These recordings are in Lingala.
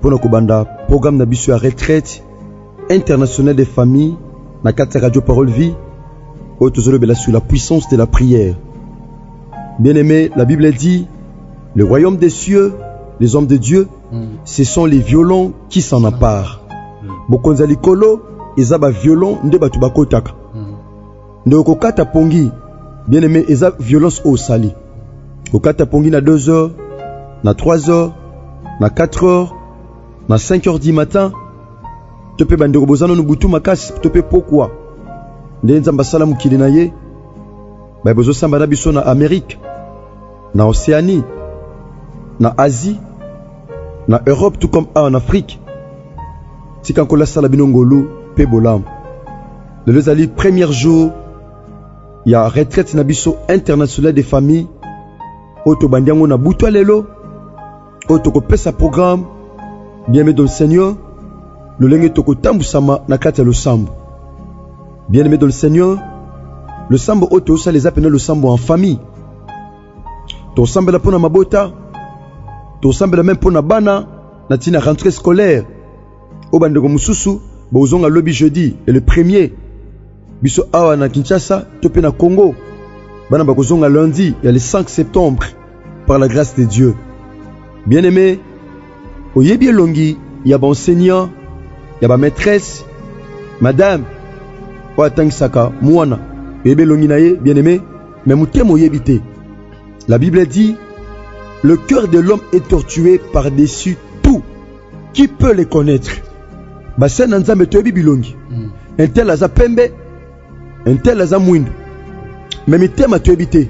mpo na kobanda programme na biso ya retraite internationale des familles na kati ya radio parole vie oyo tozolobela sur la puissance de la prière bien aimé la bible dit le royaume des cieux les hommes de dieu mm. ce sont les violents qui s'en emparent mm. bokonzi ya likolo eza baviolon nde bato bakotaka Ndeko kokata pongi bien aimé eza violence au sali. Kokata pongi na 2 heures, na 3 heures, na 4 heures, na 5 heures du matin. To pe bandeko bozano no butu makasi to pe pokwa. Nde nzamba sala mukili na ye. Ba bozo samba na biso na Amérique, na Océanie, na Asie, na Europe tout comme en Afrique. Tika nkola sala bino ngolu pe bolamu. lelo ezali premier jour ya retraite na biso international de famille oyo tobandi yango na butwa lelo oyo tokopesa programme bien-aimé dans le seigneur lolenge tokotambusama na kati ya losambo bien-aimé dans le seigneur losambo oyo tosala eza mpena losambo en famille tosambela mpo na mabota tosambela meme mpo na bana na ntina rentrée scolaire oyo bandeko mosusu bokozonga lobi jeudi le premier biso awa na kinshasa to mpe na congo bana bakozonga lundi ya le 5 septembre par la grâce de dieu bien aimé oyebi elongi ya baenseignant ya bamaîtresse madame oyo atangisaka mwana oyebi elongi na ye bien aimé me motema oyebi te la bible dit le cœur de l'homme est tortué par dessus Qui peut les connaître? Basali na Nzambe toyebi bilongi. Mm. Un tel aza pembe, un tel aza mwindu. Mais mitema toyebi te.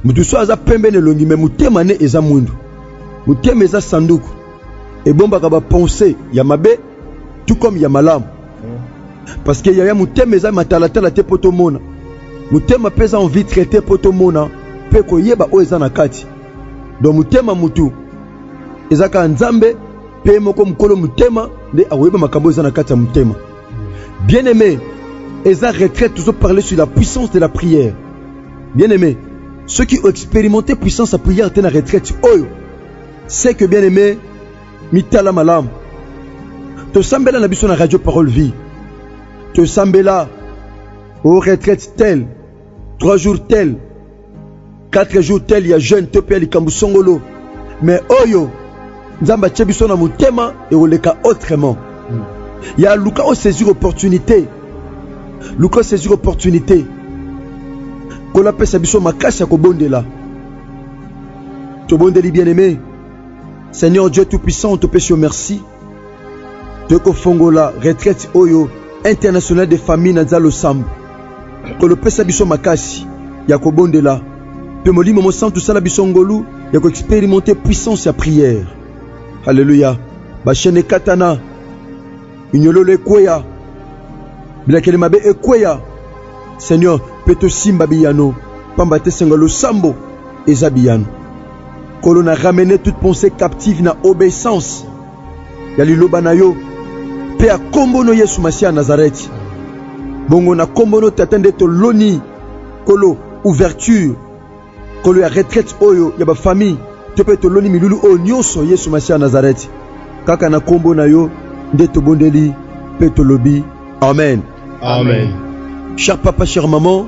Mutu so aza pembe na elongi mais motema ne eza mwindu. Motema eza sanduku. Ebombaka ba pensée ya mabe tout comme ya malamu. Mm. Parce que yaya motema eza matalatala te po tomona. Motema mpe eza en vitre te po tomona mpe koyeba oyo eza na kati. donc motema mutu eza kaka nzambe mpe moko mokolo motema nde akoyeba makambo eza na kati ya motema bien aimé eza retraite tozo parle sur la puissance de la prière bien aimé soki oexperimente puissance ya prière te na retraite oyo c'est que bien aimé mitala malamu tosambela na biso na radio parole vie tosambela o retraite tel trois jours tel 4 jours tel ya jeune to pe likambo songolo mais oyo nzambe atie biso na motema ekoleka autrement hmm. ya luka osaisir opportunité luka osaisir opportunité nkolo apesa biso makasi ya kobondela tobondeli bien aimé seigneur dieu tout puissant topesi yo merci tokofongola retraite oyo international de famille na nzalo sambo kolopesa biso makasi ya kobondela mpe molimo mosantu sala biso ngolu ya koexperimente puissance ya prière haleluya bashene ekatana minyololo ekweya bilakeli mabe ekweya seigneur mpe tosimba biyano mpamba te sengo losambo eza biyano Nkolo, na ramene toute pensee captive na obeissance ya liloba na yo mpe ya nkombo no Yesu Masiya ya Nazareti. Bongo na nkombo no Tata nde toloni Nkolo ouverture Nkolo ya retraite oyo ya bafamille to mpe toloni milulu oyo nyonso Yesu Masiya ya Nazareti. Kaka na nkombo na yo nde tobondeli mpe tolobi amen. Amen. Cher papa, chère maman,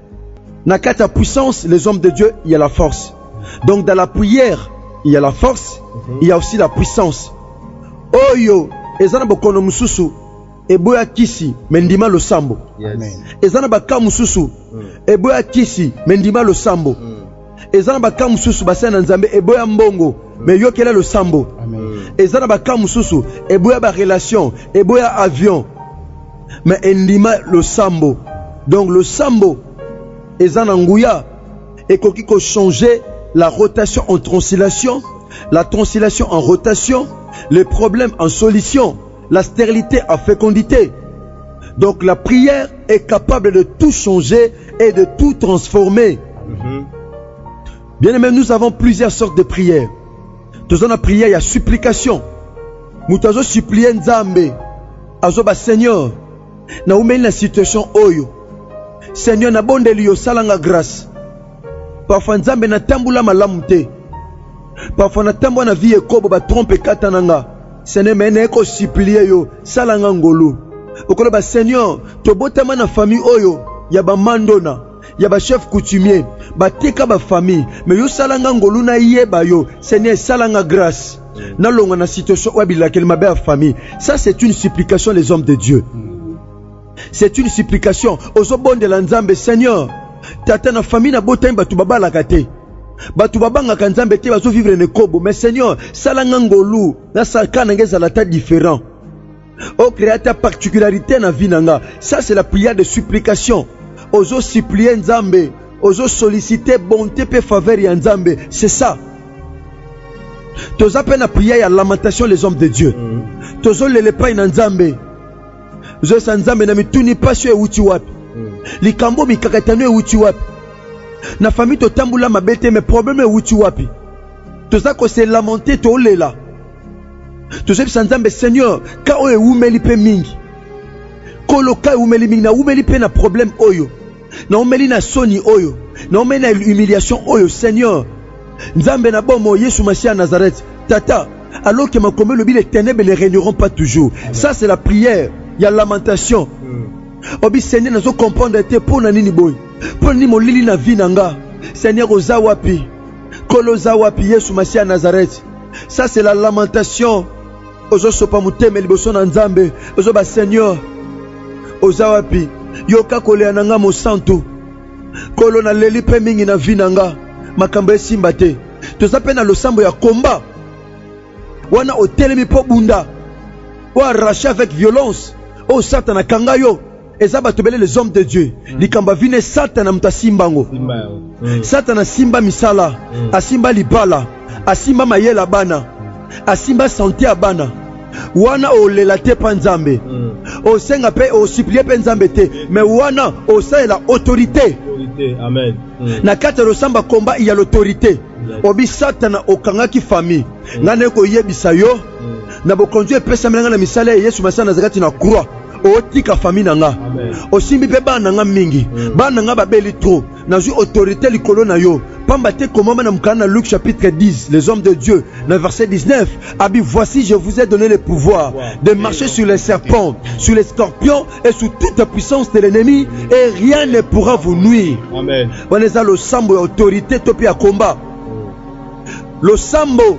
Na kati ya puissance, les hommes de Dieu, il y a la force. Donc dans la prière, il y a la force, il y a aussi la puissance. Oyo eza na bokono mosusu eboya kisi me ndima losambo. Amen. Eza na baka mosusu eboya kisi me ndima losambo. eza na baka mosusu basali na nzambe eboya mbongo me yokela losambo eza na baka mosusu eboya barelation eboya avion me endima losambo donc losambo eza na nguya ekoki kochanger la rotation en translation la translation en rotation les problèmes en solution La sterilite en fecondite. Donc la prière est capable de tout changer et de tout transformer. Mm -hmm. Bien aimé, nous avons plusieurs sortes de prières. Tous la prière, il y a supplication. Nous avons supplié Nzambe. Azoba Seigneur, na umeli la situation oyo. Seigneur, na bondeli yo salanga grâce. Parfois Nzambe na tambula malamu te. Parfois na tambwa na vie ekobo ba trompe kata nanga. Seigneur, mais naye ko supplier yo, sala nga ngolu. Okoloba Seigneur, tobotama na famille oyo ya ba mandona, ya ba chef coutumier, bateka ba famille, mais yo sala nga ngolu na yeba yo. Seigneur, sala nga grâce. Nalonga na situation oyo abilakeli mabe ya famille. Ça c'est une supplication les hommes de Dieu. C'est une supplication ozo bondela nzambe seigneur tata na famille na botami batu babalaka te bato babangaka nzambe te bazo vivre na ekobo mais seigneur sala nga ngolu nasala ka na nga ezala ata différent ocrea ata particularité na vie na nga ça c'est la prière de supplication ozo supplie nzambe ozo sollicite bonté mpe faveur ya nzambe c'est ça toza mpe na prière ya lamentation les hommes de dieu mm. tozolela epai na nzambe zosa nzambe na mituni mpasi oyo ewuti wapi hmm. likambo mikakatano ewuti wapi na fami totambola mabe te me probleme ewuti wapi toza kose lamente tolela tozoyebisa nzambe seigneur ka oyo ewumeli mpe mingi kolo ka ewumeli mingi nawumeli mpe na probleme oyo Naumeli na soni oyo, naumeli na humiliation oyo, Seigneur. Nzambe na bomo, Yesu Masiya ya Nazareth, Tata, alors que makomi elobi les ténèbres ne régneront pas toujours. Ça c'est la prière ya lamentation. Hmm. Obi Seigneur, nazo comprendre te mpo na nini boye, mpo na nini molili na vie na nga. Seigneur, oza wapi? Kolo oza wapi? Yesu Masiya ya Nazareth. Ça c'est la lamentation. ozosopa motema liboso na nzambe ozoba seigneur oza wapi yoka kolela na nga mosantu kolo naleli mpe mingi na vi na nga makambo esimba te toza mpe na losambo ya komba wana otelemi mpo bunda oarrache avec violence oyo satana kanga yo eza bato ebele les hommes de dieu mm. likambo avine satana moto asimba yango mm. satana asimba misala mm. asimba libala asimba mayele ya bana asimba sante ya bana wana olela te mpa nzambe mm. osenga mpe osuplie mpe nzambe te me wana osalela autorité mm. na kati ya losamba komba ya l'autorité obi satana okangaki famille mm. ngai naye koyebisa yo na bokonzi oyo epesamela ngai na misala ya yesu masiya nazali kati na croix otika fami na nga osimbi mpe bana na nga mingi mm. bana na nga babeli trop nazwi autorité likolo na yo pamba te komama na mokanda na luke chapitre 10 les hommes de dieu na verset 19 abi voici je vous ai donné le pouvoir de marcher sur les serpents sur les scorpions et sur toute la puissance de l'ennemi et rien ne pourra vous nuire wana eza losambo ya autorité to mpe ya combat Losambo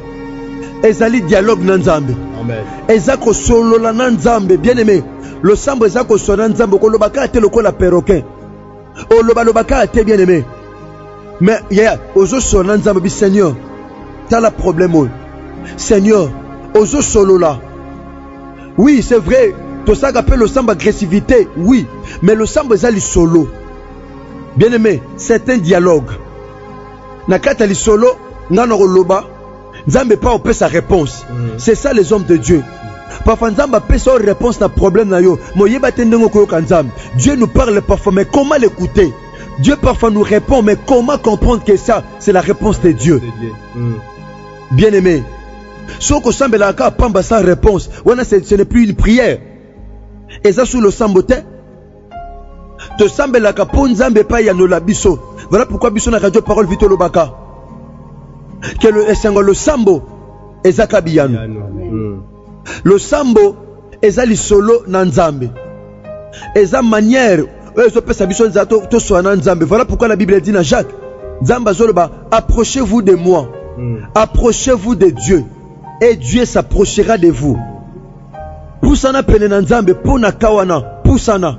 ezali dialogue na Nzambe. Amen. Eza kosolola na Nzambe. Bien aimé, losambo eza kosolola na Nzambe, koloba kaka te lokola perroquet. Oloba loba kaka te bien aimé. Mais yeah, ozo solola na Nzambe bi Seigneur. Tala problème oyo. Seigneur, ozo solola. Oui, c'est vrai. Tosaka pe losambo agressivité, oui, mais losambo eza lisolo. Bien aimé, c'est un dialogue. Na kati ya lisolo nga na koloba Nzambe pa opesa réponse. Mm. C'est ça les hommes de Dieu. Parfois Nzambe apesa yo réponse na problème na yo, mais oyeba te ndenge okoyoka Nzambe. Dieu nous parle parfois, mais comment l'écouter? Dieu parfois nous répond, mais comment comprendre que ça, c'est la réponse de Dieu? Mm. Bien aimé, soko sambela ka pamba sans réponse, wana ce n'est plus une prière. Eza sous le sambotin. tosambelaka mpo nzambe epai yanola biso voilà pourquoi biso na radio parole vie tolobaka ke esengo ya losambo ezaka biyano hmm. losambo eza lisolo na nzambe eza manière oyo ezopesa biso nzela toswana na nzambe voilà pourquoi la bible dit na jacques nzambe azoloba approchez vous de moi hmm. approchez vous de dieu et dieu s'approchera de vous Pusana pene na Nzambe mpo na kawana. Pusana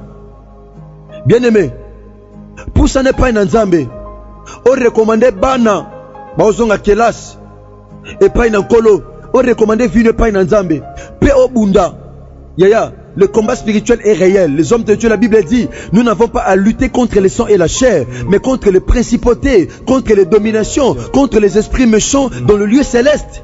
bien-aime, pusana epai na Nzambe, orekomande bana baozonga kelasi epai na Nkolo, orekomande vino epai na Nzambe mpe obunda yaya Le combat spirituel est réel. Les hommes de Dieu, la Bible dit, nous n'avons pas à lutter contre le sang et la chair, mais contre les principautés, contre les dominations, contre les esprits méchants dans le lieu céleste.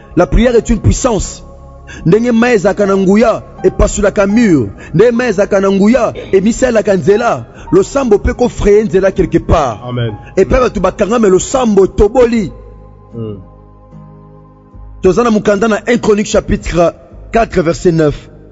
La prière est une puissance. ndenge mai ezalaka na nguya epasolaka mur ndenge mai ezalaka na nguya emisalelaka nzela losambo mpe kofraye nzela quelque part epai bato bakangame losambo etoboli hmm. toza na mokanda na 1 chronique chapitre 4 verset 9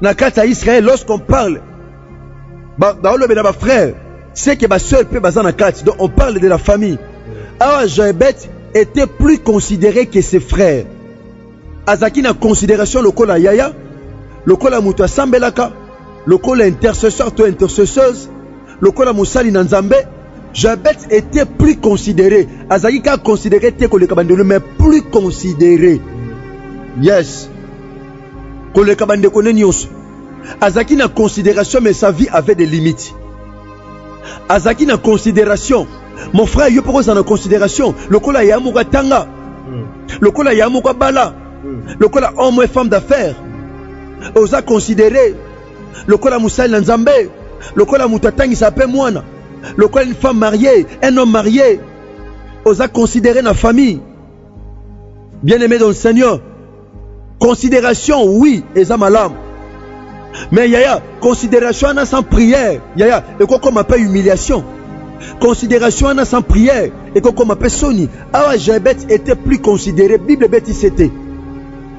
na kati ya Israël lorsqu'on parle baolobela ba bafrère c'est que basœur mpe baza na kati donc on parle de la famille awa joebet était plus considéré que ses frères azalaki na considération lokola yaya lokola moto asambelaka lokola intercesseur to intercesseuse Lokola mosali na Nzambe, Jabet etait plus considere, azalaki kaka considere te koleka bandelo, mais plus considere. Yes, koleka bandeko ne nyonso. Azalaki na consideration, mais sa vie avait des limites. Azalaki na consideration. Mon frère, yo poko za na consideration. Lokola ya moko atanga, hmm. lokola ya moko abala, hmm. lokola homme et femme d'affaires, oza considéré lokola mosali na Nzambe, lokola moto atangisa mpe mwana, lokola une femme mariée, un homme marié, oza considéré na famille. Bien aimé dans le Seigneur, considération oui eza malamu mais yaya considération wana sans prière yaya ekokoma mpe humiliation considération wana sans prière ekokoma mpe soni awa jabet était plus considéré bible ebetisi ete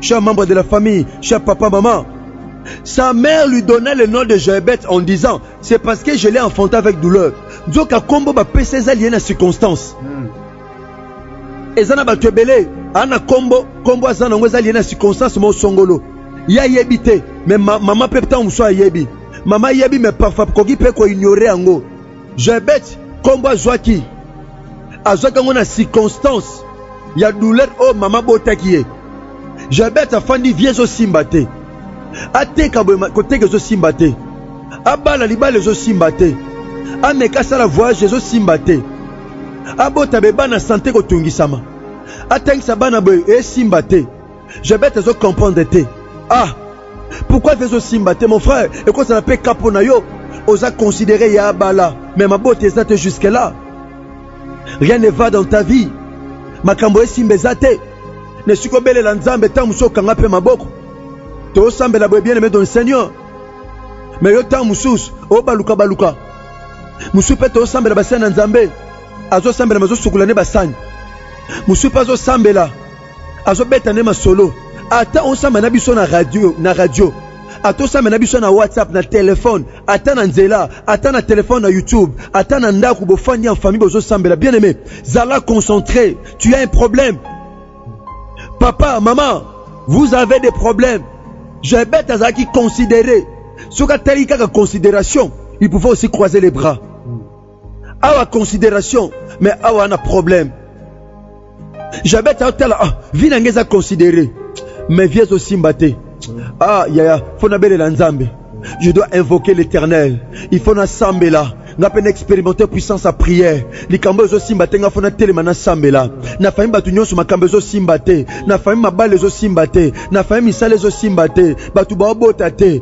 Chers membres de la famille, chers papa, maman, sa mère lui donna le nom de Joëbeth en disant c'est parce que je l'ai enfanté avec douleur. Nzoka kombo ba pesa eza lié na circonstance. Hmm. Eza na bato ebele ana kombo kombo aza nango eza lié na circonstance mo songolo. Ye ayebi te mais ma, mama mpe ntango mosusu ayebi mama ayebi mais parfois koki mpe koignore yango Joebet kombo azwaki azwaki yango na circonstance ya douleur oyo mama botaki ye jabet afandi vie ezosimba te ateka boye koteka ezosimba te abala libala ezosimba te ameka asala voyage ezosimba te abota be bana sante kotungisama atangisa bana boye esimba te Jabet azo comprendre te. Ah, pourquoi vie ezosimba te mon frère? Ekozala mpe ka mpo na yo. Oza considere ya abala, mais mabota eza te jusque là. Rien ne va dans ta vie. Makambo esimba eza te. Na esika obelela Nzambe ntango mosusu okanga mpe maboko. Tosambela boye bien aimé dans le Seigneur. Mais yo ntango mosusu obaluka baluka. Mosusu mpe tosambela basani na Nzambe. Azosambela mais azosukola nde basani. Mosusu mpe azosambela azobeta nde masolo ata osamba na biso na radio na radio ata osamba na biso na whatsapp na telefone ata na nzela ata na telefone na youtube ata na ndako bofandi en famille bozosambela bien aimé zala concentré tu as un problème papa maman vous avez des problèmes jabet azalaki considéré soki atali kaka considération il pouvait aussi croiser les bras awa consideration me awa na problème jabete aotala ah, vi na ngai eza considere me vie ezosimba te ah yaya fo nabelela nzambe je dois invoquer l'éternel il faut nasambela nga mpe na expérimente puissance ya prière likambo ezosimba te nga fo natelema nasambela na fami bato nyonso makambo ezosimba te na fami mabala ezosimba te na fami misala ezosimba te bato baobota te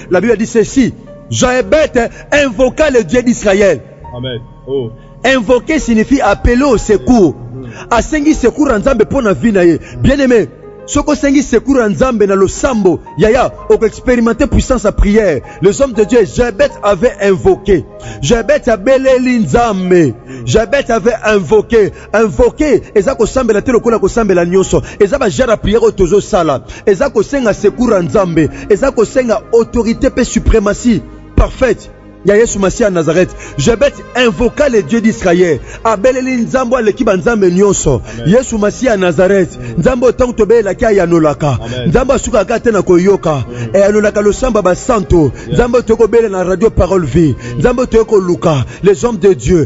La Bible dit ceci, Joëbet invoqua le Dieu d'Israël. Amen. Oh. Invoquer signifie appeler au secours. Mm. Asengi secours ya Nzambe mpo na vie na ye. Bien aimé, soki osengi secours ya Nzambe na losambo, yaya, okoexperimente puissance ya prière. Les hommes de Dieu, Joëbet avait invoqué. Joëbet abeleli Nzambe. Joëbet avait invoqué. Invoquer eza kosambela te lokola kosambela nyoso. Eza ba genre ya prière oyo tozo sala. Eza kosenga secours ya Nzambe. Eza kosenga autorite pe suprematie parfaite ya Yesu Masiya ya Nazareth. Jebeth invoqua le Dieu d'Israël. Abeleli Nzambe aleki ba Nzambe nyoso. Yesu Masiya ya Nazareth. Nzambe oyo tango tobelelaki ayanolaka. Nzambe asukaka kaka te na koyoka. Ayanolaka losambo ya ba santu. Nzambe oyo tokoki kobela na radio parole vie. Nzambe oyo tokoki koluka les hommes de Dieu.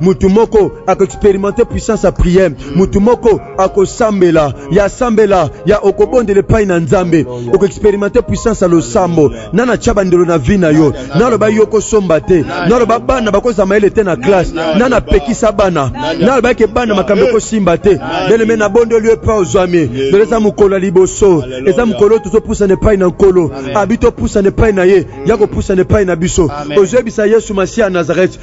mutu moko akoexperimente puissance ya priere mutu moko akosambela ya sambela ya okobondela epai na nzambe okoexperimente puissance ya losambo na natya bandelo na vi na yo naloba yo okosomba te naloba bana bakozala mayele te na classe na napekisa bana naloba eke bana makambo ekosimba te beleme nabondeli yo epai ozwami lelo eza mokolo ya liboso eza mokolo oyo tozopusana epai na nkolo abi topusana epai na ye ya kopusana epai na biso ozoyebisa yesu masiya ya nazarete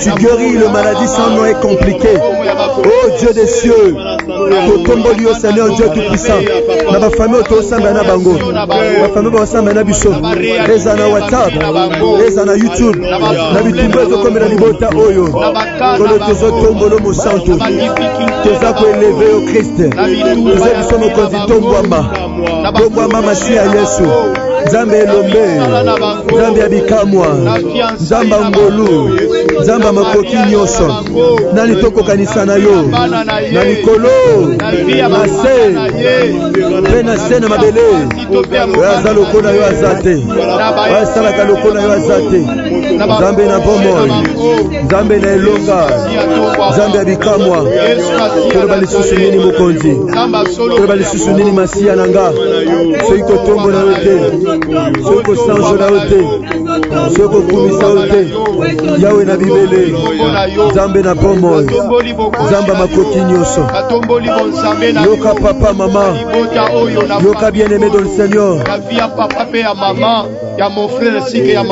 Tu guéris le maladie sans nom est compliqué. Oh Dieu des cieux, totomboli yo Seigneur Dieu tout puissant. Na ba famille tosamba na bango. Ba famille basamba na biso. Eza na WhatsApp, eza na YouTube. Na bitumba ezokomela libota oyo. Kolo tozotombolo mosantu. Toza koeleve yo Christ. Toza biso mokonzi tombwama. Lobwa mama si ya Yesu nzambe elombe nzambe ya bikamwa nzambe ya ngolu nzambe ya makoki nyonso nani tokokanisa na yo na likolo na se mpe na se na mabele oyo aza lokola yo aza te oyo asalaka lokola yo aza te nzambe na bomoi nzambe na elonga nzambe ya bikamwa toloba lisusu nini mokonzi toloba lisusu nini masiya na nga soki kotombo na yo te soki kosanjo na yo te soki kokumisa yo te yawe na bibele nzambe na bomoi nzambe ya makoki nyonso yoka papa mama yoka bien aime dans le seigneur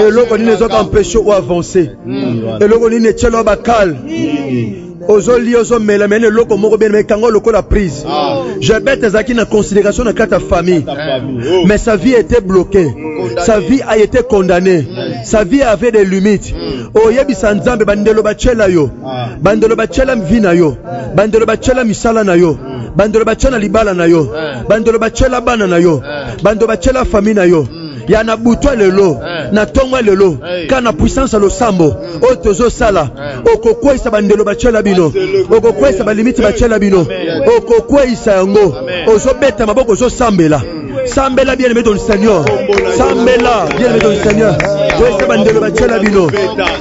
eloko nini ezoka mpeshe o avance eloko nini etyelo bakale ozoli ozomela mene eloko moko bene mekanga lokola prise ah. jabete ezalaki na considération na kati ya famille oh. mais sa vie était bloquée sa vie a été condamnée sa vie avait des limites hmm. oyebisa nzambe bandelo batyela yo ah. bandelo batyela vi na yo hmm. bandelo batyela misala na yo hmm. bandelo batyela libala na yo bandelo batyela bana na yo bandelo batyela famille na yo ya na butwa lelo eh. na ntongo ya lelo eh. kaka na puissance ya losambo hmm. oyo tozosala eh. okokweisa bandelo batyela bino okokweisa balimiti batyela bino okokweisa yango ozobeta maboko ozosambela hmm. sambela bien aimé ton seigneur sambela bien aimé ton seigneur kwesa bandelo batyela bino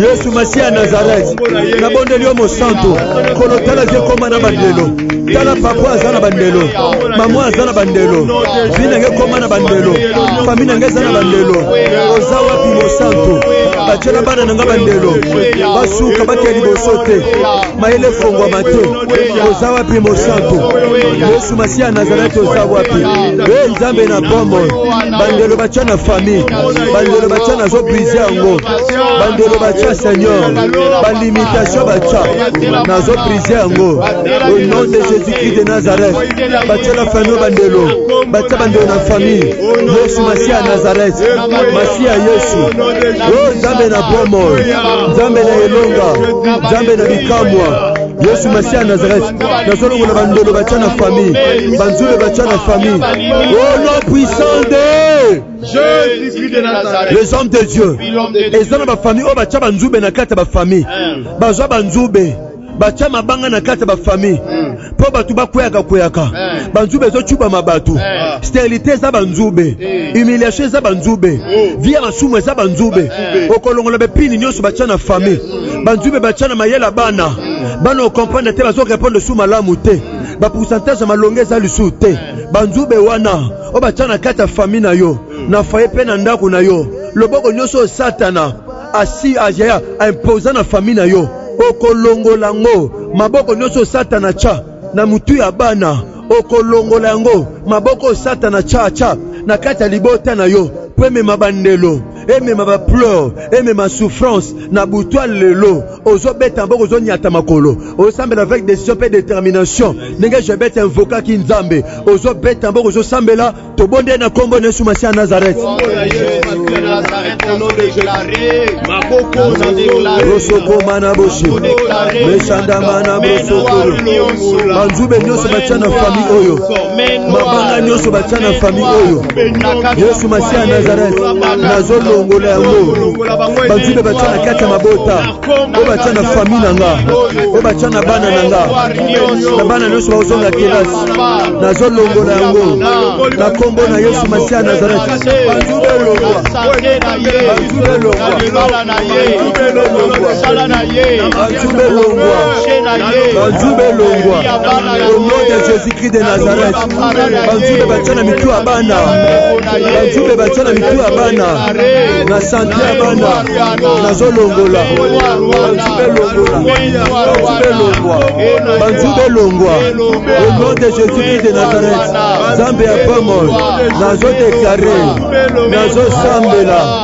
yesu masiya ya nazarete nabondeli yo mosantu kolo tala vie ekoma na bandelo tala papa aza na bandelo mama aza na bandelo vi nange ekoma na bandelo fami nange eza na bandelo oza wapi mosantu batyela bana na nga bandelo basuka bakei liboso te mayele efongwama te oza wapi mosantu yesu masiya ya nazarete oza wapi e nzambe na bomoi bandelo batya na fami bandelo batya nazobrize yango bandelo batya seigneur balimitation batya nazo prise yango au nom de jésus christ de nazareth batyela fano bandelo batya bandelo na famille yesu masiya ya nazareth masiya yesu o nzambe na bomoi nzambe na elonga nzambe na bikamwa yesu masiya ya nazareth nazolongola bandelo batya na famille banzube batya na famille au nom puissant de les hommes de dieu eza na bafamille oyo batya banzube na kati ya bafamille bazwa banzube batya mabanga na kati ya bafamille mpo bato bakweyaka kweyaka banzube ezocubama bato sterilité eza banzube humiliation eza banzube vi ya masumu eza banzube okolongola bepini nyonso batya na famille banzube batya na mayela bana bana okomprendre te bazokorepondre su malamu te bapourcentage ya malonga eza lisusu te banzube wana oyo batya na kati ya fami na yo na faye mpe na ndako na yo loboko nyonso oyo satana asi ajaya aimpoza na fami na yo okolongola yango maboko nyonso oyo satana tya na motu ya bana okolongola yango maboko oyo satana tya tya na kati ya libota na yo mpo emema bandelo emema ba pleure emema souffrance na butwa lelo ozobeta mboko ozonyata makolo osambela avec décision mpe détermination ndenge jebet invokaki nzambe ozobeta mboko ozosambela tobonde na nkombo na yesu masiya nazareth rosokoma na bosi mesandama na bosokolo banzube nyonso batya na fami oyo mabanga nyonso batya na fami oyo yesu masiya ya nazareth nazolongola yango banzube batya na kati ya mabota oyo batya na fami na nga oyo batya na bana na nga na bana nyonso bakozonga kelasi nazolongola yango na nkombo na yesu masiya ya nazareth banzube elongwa banzube elongwa banzube elongwa banzube elongwa au nom de jésus christ de nazareth banzube batya na mitu ya bana banzube batya na mitu ya bana na sante ya bana nazolongola banzube longwa banzube longwa au nom de jésus christ de nazareth nzambe ya pomol nazodeklare nazosambela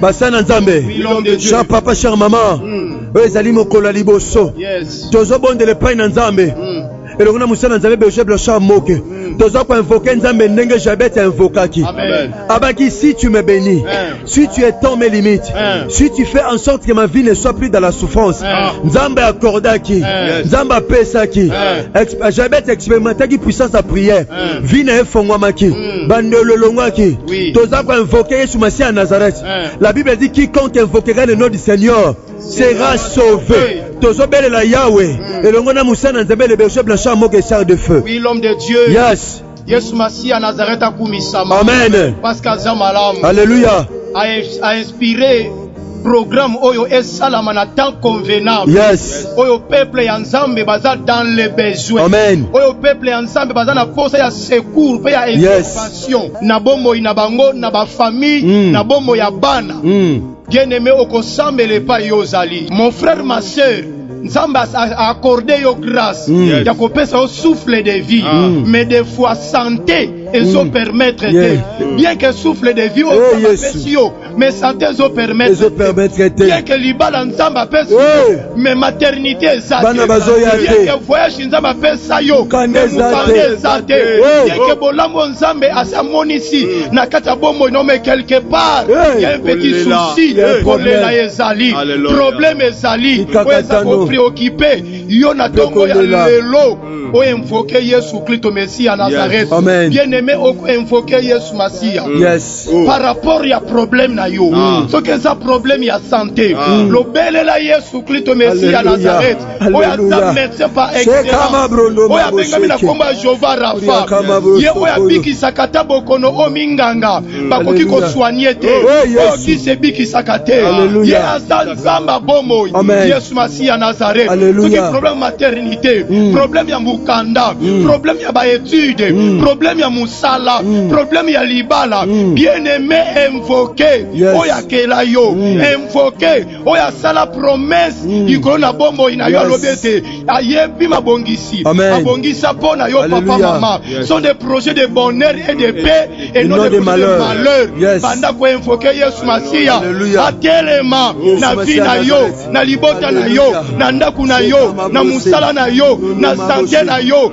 basa na nzambe cher papa cher mama hmm. oyo ezali mokolo ya liboso tozobondela epai na nzambe hmm. elongo na mosala na nzambe berger blanchard moke hmm. toza koinvoke nzambe ndenge jabete invokaki abaki si tu me bénis si tu étends mes limites si tu fais en sorte que ma vie ne soit plus dans la souffrance nzambe accordaki nzambe apesaki jabete expérimentaki puissance ya prière vie na ye efongwamaki Hmm. bando elolongwaki oui. toza koinvoke yesu masiya ya nazareth eh. la bible dit quiconque invoquera le nom du seigneur sera sauvé tozobelela yawe hmm. elongo na mosana nzambe le berger blanchard moke sar de feu oui, l'homme de dieu yes yesu masiya nazareth akumisama amen parce que aza malamu alleluya a inspiré programme oyo esalama na temps convenable yes. oyo peuple ya nzambe baza dans le besoin Amen. oyo peuple ya nzambe baza na posa ya secours mpe ya intervention yes. na bomoi na bango na bafamille mm. na bomoi ya bana mm. bien aime okosambela epai yo ozali mon frère ma sœur nzambe accorde yo grâce mm. yes. ya kopesa yo souffle de vie ah. mm. mais des fois santé ezo mm. permettre te yes. bien que souffle de vie oyo oh, apesi yo mais santé ezo permettre ezo permettre te bien que libala nzambe apesa oui. mais maternité eza te bana bazoya te bien que voyage nzambe apesa yo kanda eza te eza te bien que bolambo nzambe asi amonisi na kati ya bomoi no mais quelque part il y a un petit souci kolela ezali problème ezali oyo eza ko préoccuper yo na tongo ya lelo hmm. o invoquer Yesu Christo Messie à Nazareth bien aimé o invoquer Yesu Masiya yes oh. par rapport ya problème na yo ah. soki eza problème ya santé ah. mm. lobelela yesu klisto mesi ya nazareth oyo aza médecin par excellence oyo abengami na nkombo ya jehova rafa ye oyo abikisaka ata bokono oyo minganga mm. bakoki kosoigne te oyo kisi ebikisaka te ye aza nzambe ya bomoi yesu masi ya nazareth soki problème maternité mm. problème ya mokanda mm. problème ya baétude mm. problème ya mosala mm. problème ya libala mm. bien aimé invoqué yes. oyo akela yo mm. invoqué oyo asala promesse mm. likolo na bomoi na yo yes. alobi ete ayebi mabongisi abongisa mpo na yo Alleluia. papa mama yes. sont des projets de bonheur et de paix et non de, de malheur, malheur. Yes. banda koinvoke yesu masiya atelema na vi na yo na libota na yo na ndako na yo na mosala na yo na sante na yo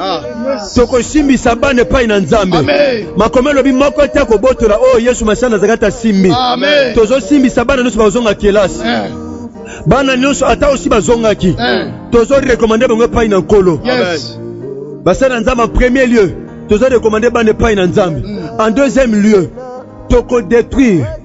Ah. tokosimbisa bana epai na nzambe makomi elobi moko te akobotola oyo oh, yesu masiya nazalaki ata simbi tozosimbisa bana nyonso bakozonga kelasi eh. bana nyonso ata osi bazongaki eh. tozorekomande bango epai na nkolo basali na nzambe en premier lieu tozorekomande bana epai na nzambe mm. en deuxième lieu tokodetruire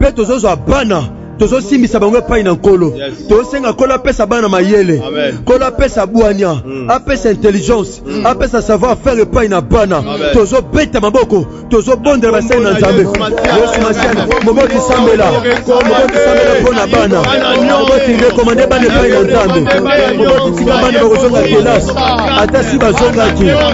mpe tozozwa bana tozosimbisa bango epai na nkolo tosenga nkolo apesa bana mayele nkolo apesa bwania mm. apesa intelligence mm. apesa savoir faire epai na bana tozobeta maboko tozobondela basali na nzambe yesu masiana moboti sambela moboti sambela mpo na bana moboti rekomande bana epai na nzambe moboti tika bana bakozonga kelasi ata si bazongaki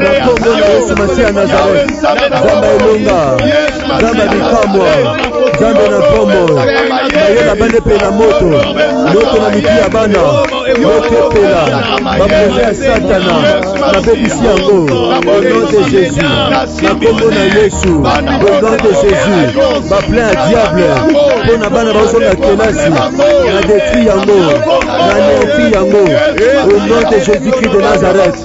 yesu masiya ya nazareth nzambe elonga nzambe bikamwa nzambe na ntomo mayela bana epe na moto moto na miki ya bana mokopela baproje ya satana nabebisi yango onom de jésus na nkombo na yesu onom de jésus baplan ya diable mpo na bana bazonga kelasi na detri yango na nerti yango onom de jésus christ de nazareth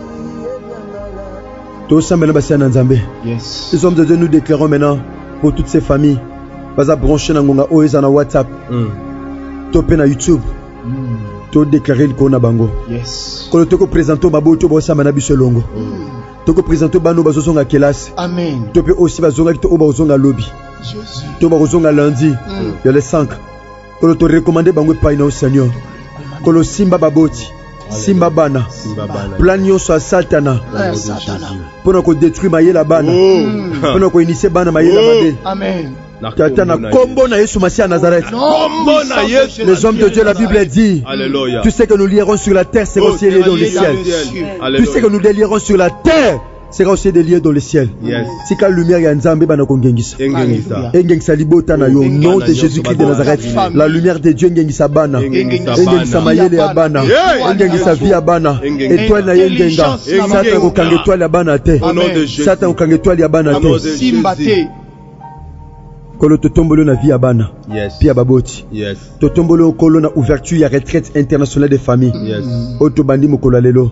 tosambela basi ya na nzambe yes. iso mzeze nous déclarons maintenant pour toutes ces familles baza branche na ngonga oyo eza na whatsapp mm. to mpe na youtube mm. todeklare likolo na bango yes. kolo tokopresente baboyi to bosamba na biso elongo mm. tokopresente bana oyo bazozonga kelasi to mpe oyo si bazongaki to oyo bakozonga lobi to bakozonga lundi mm. ya le 5 kolo to recommande bango epai na yo seigneur kolo simba baboti simba bana plan nyonso ya satana mpo na kodetruire mayele ya bana mpo na koinisie bana mayele ya mabe Tata na combo na Yesu Massia Nazareth. Les hommes de Dieu, la Bible dit. Alléluia. Tu sais que nous lierons sur la terre, c'est au ciel et dans le ciel. Tu sais que nous délierons sur la terre. seka ose de lieu dans le ciel yes. tika lumière ya nzambe ebanda kongengisa engengisa libota na yo nom de jésus christ de nazareth la lumière de dieu engengisa bana engengisa mayele ya bana engengisa vie ya bana etoile na ye engenga satana kokanga etoile ya bana te satana kokanga etoile ya bana te kolo totomboli na vie ya bana yes. mpe ya baboti yes. totomboli okolo na ouverture ya retraite internationale de famille yes. oyo tobandi mokolo ya lelo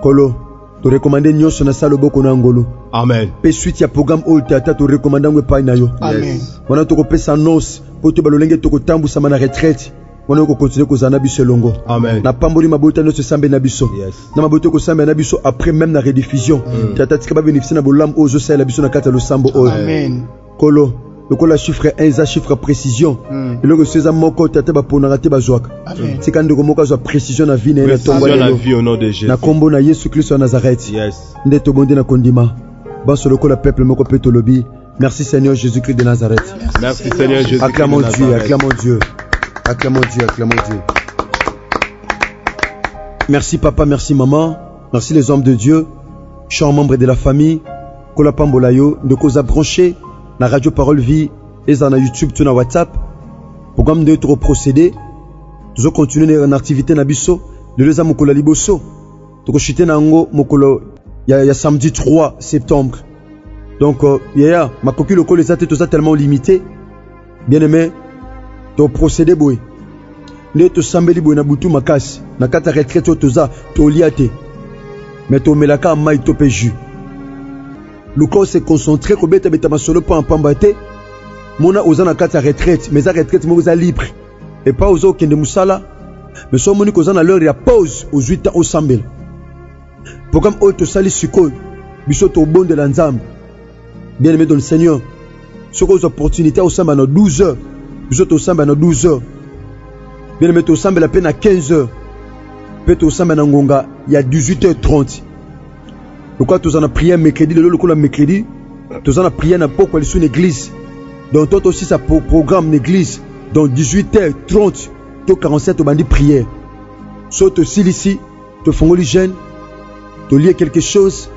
Kolo, to recommande nyonso na sa loboko na ngolu amen mpe suite ya programme oyo te ata to recommande yango epai na yo amen wana tokopesa annonce mpo toyeba lolenge tokotambwisama na retraite wana okokontinue kozala na biso elongo amen napamboli mabota nyonso esambeli na biso yes. na mabota ekosambela na biso après meme na rediffusion mm. tata tika babénéficie na bolamu oyo ozosalela biso na kati ya losambo oyo amen kolo lokola chiffre 1 eza chiffre précision hmm. eloko esu eza moko te ata baponaka te bazwaka tika ndeko moko azwa précision na vie na ye na ntongo lelo na nkombo na yesu kristo ya nazareth nde tobondi na kondima banso lokola peuple moko mpe tolobi merci seigneur jésus christ de nazareth merci seigneur jésus acclamons dieu acclamons dieu acclamons dieu acclamons dieu merci papa merci maman merci les hommes de dieu chers membres de la famille Kola pambola yo ndeko oza branche na radio parole vie ezala na youtube to na whatsapp programme nde toko procéder tozo continuer na activité na biso lelo eza mokolo ya liboso tokoshite na yango mokolo ya, ya samedi 3 septembre donc euh, yaya makoki lokola eza te toza tellement limité bien aime toprocede boye nde tosambeli boye na butu makasi na kati ya retraite oyo toza tolia te me tomelaka mai to mpe jus luka ose concentre kobetabeta masolo mpo mpamba te mona oza na kati ya retraite mais eza retraite moko eza libre epai oza okende mosala mais so omoni koza na l'heure ya pause ozwi temps osambela Programme oyo tosali sikoyo biso tobondela Nzambe. Bien aimé dans le Seigneur, soki ozwa opportunité osamba na 12 heures, biso tosamba na 12 heures. Bien aimé tosambela mpe na 15 heures mpe tosamba na ngonga ya 18h30 lokola toza na prière mercredi lelo lokola mercredi toza na prière na pokwa lisu na église donc to tosisa pro programme na église donc 18h30 to 47 tobandi prière so tosilisi tofongoli jeune tolie quelque chose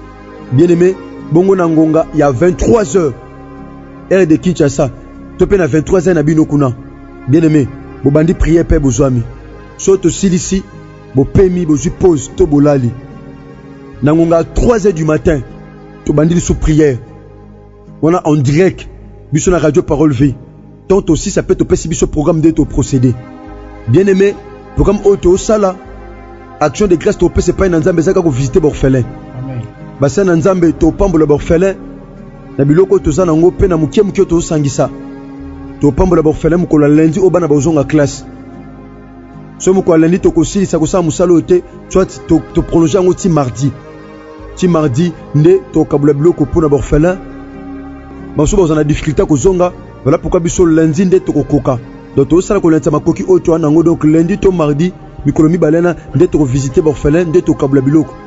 bien aimé bongo na ngonga ya 23 heures heure de kinshasa to mpe na 23 heures na bino kuna bien aimé bobandi priere mpe bozwami so tosilisi bopemi bozwi pose to bolali na ngonga ya 3 heures du matin tobandi lisusu priere wana en direct biso na radio parole vie tant tosisa mpe topesi biso programme nde toprocede bien aimé programme oyo tosala action de grâce topesa epai na nzambe ezaka kovisite baorphelin basali na nzambe topambola baorphelin na biloko oyo toza nango mpe na moke moke oyo tozosangisa topambola baorphelin mokolo ya lundi oyo bana bakozonga classe soki mokolo ya landi tokosilisa kosala mosala oyo te soit toprolonge yango ti mardi ti mardi nde tokabula biloko mpo na baorphelin basusu bazwa na difficulté ya kozonga vala pourkua biso lundi nde tokokoka donc tozosala kolendisa makoki oyo toa na yango donc lundi to mardi mikolo mibale na nde tokovisite baorphelin nde tokabula biloko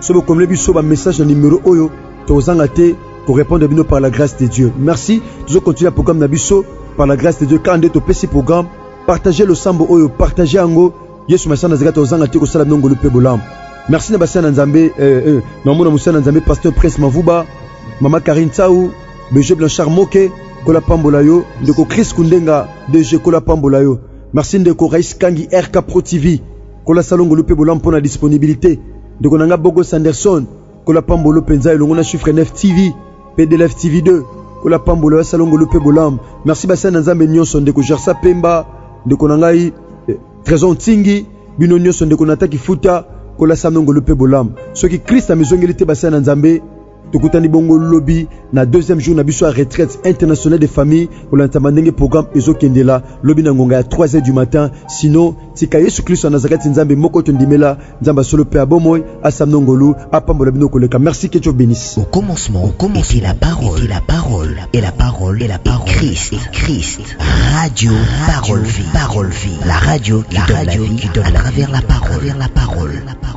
soki bokomele biso ba message na numero oyo tokozanga te ko répondre bino par la grâce de Dieu merci tozo continuer programme na biso par la grâce de Dieu kaka nde topesi programme partager losambo oyo partager yango yesu masana zeka tozanga te kosala bino ngolu mpe bolamu merci na basali na nzambe eh, eh, na omona mosali na nzambe pasteur prince mavuba mama karine tsau beje blanchard moke kola pambola yo ndeko chris kundenga dg kola pambola yo merci ndeko rais kangi rk pro tv Kola Salon Ngolu mpe Bolam mpo na disponibilite. Ndeko na nga Bogo Sanderson, Kola Pambolo mpenza elongo na Chiffre 9 TV mpe DLF TV 2. Kola Pambolo ya Salon Ngolu mpe Bolam. Merci basali na Nzambe nyonso, ndeko Gersa Pemba, ndeko na ngai eh, Trésor Ntingi, bino nyonso ndeko Nata Kifuta, Kola Salon Ngolu mpe Bolam. Soki Christ amizongeli te basali na Nzambe, tokutani bongo lobi na deuxième jour na biso ya retraite internationale de famille kolandisama ndenge programme ezokendela lobi na ngonga ya 3 du matin sino tika yesu kristo ya nazareti nzambe moko tondimela nzambe ya solo mpe ya bomoi asamno ngolu apambola bino koleka merci que dieu bénisse au commencement au commencement la parole la parole et la parole et la parole christ et christ radio parole vie parole vie la radio la radio qui donne à travers la parole la parole la parole